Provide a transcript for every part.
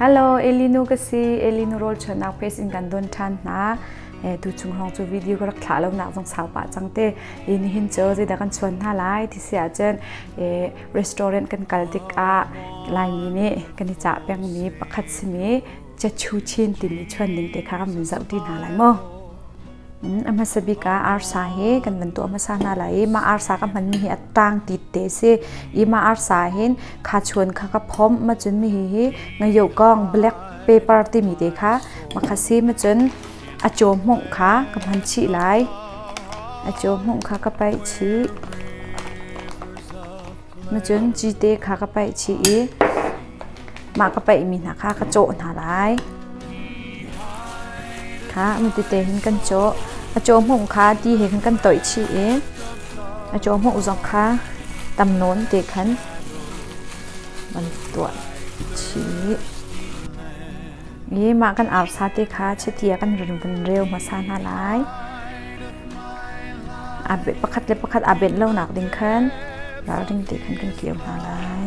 Hello, Elinu ka si. Elinu rol chuanak pace in kan don than hna. Eh, tu chung hong chu video ka rak thla lo nak zong sau pa chang te. In hin cho je da kan chuan hna lai ti sia chen eh restaurant kan kal tik a laimi ni kan i cha peng mi pakhat simi Chechu Chin timi chuan ning te kha kan min zau ti hna lai mo. a hmasa bik ah arsa he kan van tuah hmasa hna lai i mah arsa ka hmanmi hi a tang tit te a si i mah arsa hin kha chuan kha ka phomh ma cun mi hi hi ngayohkong black paper timi te kha ma kha si ma cun a caw hmung kha ka hman chih lai a caw hmung kha ka paih chih Nacun cite kha ka paih chih i mah ka paihmi hna kha ka cawh hna lai. Kha mitete hin kan cawh. A caw hmuh kha ti he khin kan toih chih i a caw hmuh zong kha tam nawn te khan van tuah chih. I mah kan au sate kha chiti a kan run vun reu hmasa hna lai. pakhat le pakhat aa benh lonak ding khan ralring tein kan kir hna lai.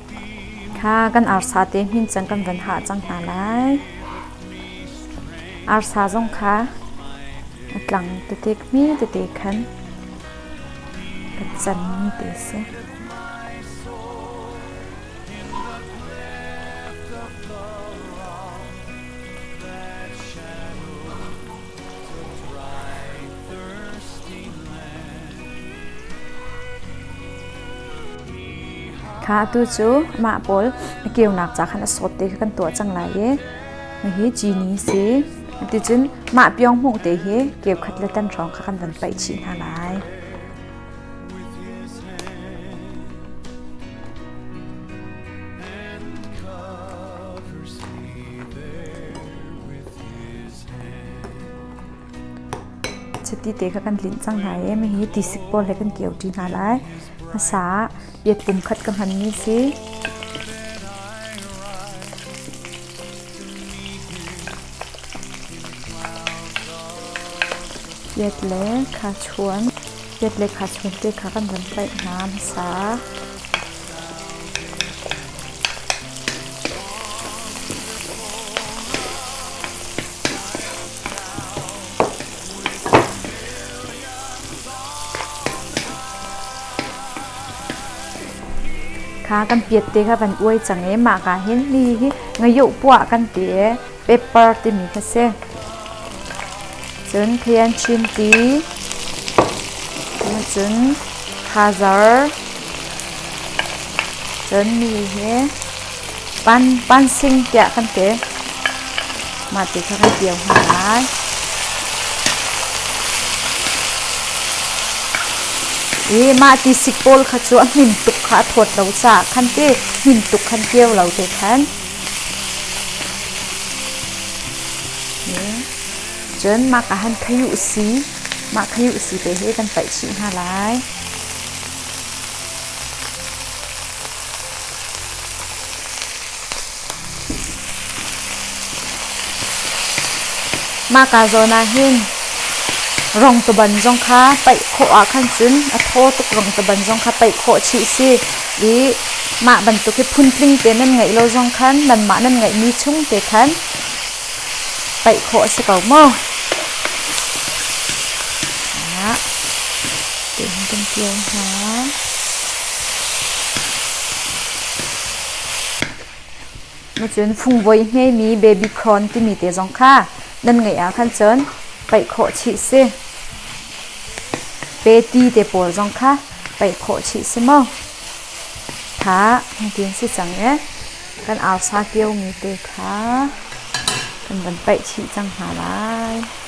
Kha kan arsa te hin cang kan van hah cang hna lai. Arsa zong kha a tlang tete hme tete khan ka can te si. Kha atu cu mah pawl na keunak ca khan a sawt ti kha kan tuah cang lai i na hi cini si. Ticun mah pyonghmung te hi keukhat le tan hrawng kha kan van paih chih hna lai. chiti te kha kan tlinh cang hna i hihi tisik pawl he kan keuṭi hna lai hmasa ah biat pumkhat ka hmanmi si biat le khachuan biat le khachuan te kha kan van tlaih hna hmasa kha kan piat te kha van uai cang ee mah ka hin ni hi ngayoh puah kan ti ee pepper timi kha si. Cun Thian Chin Ti, cun Khazar, cun mi hi pan pan sing tiah kan ti. Mah ti kha kan tio hna lai. I mah ti sik pawl kha cu a hmin tuk kha a thawt lo caah khan ti hmin tuk khan kio lo te khan Cun mah ka han khei u si. Mah khei u si te hi kan paih chih hna lai. Mah ka zawn ah hin rongtaban zong kha paih khawh ah khan cun a thaw tuk rongtaban zong kha paih khawh chih si. i mah bantuk hi phuntling te nan ngeih lo zong khan nanmah nan ngeihmi chung te khan paih khawh a si ko maw? Ah, tihin kan kio hna. Nacun fungvoi hngemi babycorn timi te zong kha nan ngeih ahkhan cun paih khawh chih si. Peti te pawl zong kha paih khawh chih si maw? Tha hmutin si cang e. Kan arsa kiomi te kha kan van paih chih cang hna lai.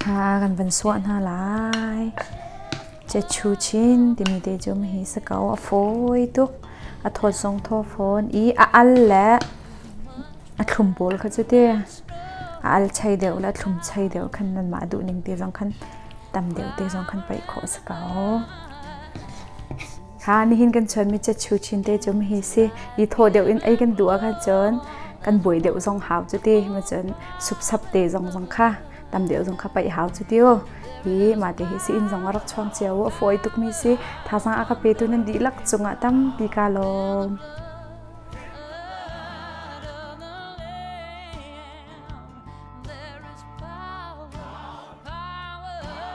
Kha a kan van suah hna lai. Chechu chin timi te cu hihi si ko. A fawi tuk. A thawt zong thaw fawn i a al le a thlum pawl kha cu te a al chei deuh le a thlum chei deuh khan nanmah duh ning te zong khan tam deuh te zong khan paih khawh si ko. Thla nihin kan chuanmi chetchu chin te cu hi si i thaw deuh in ei kan duh ahkhan cun kan buai deuh zong hau cu ti ma cun supsap te zong zong kha tam deuh zong kha paih hau cu ti o hi ma te hi si inn zong a rak chuang cio a fawi tukmi si thazang a ka petu nan dihlak cungah tampi ka lawm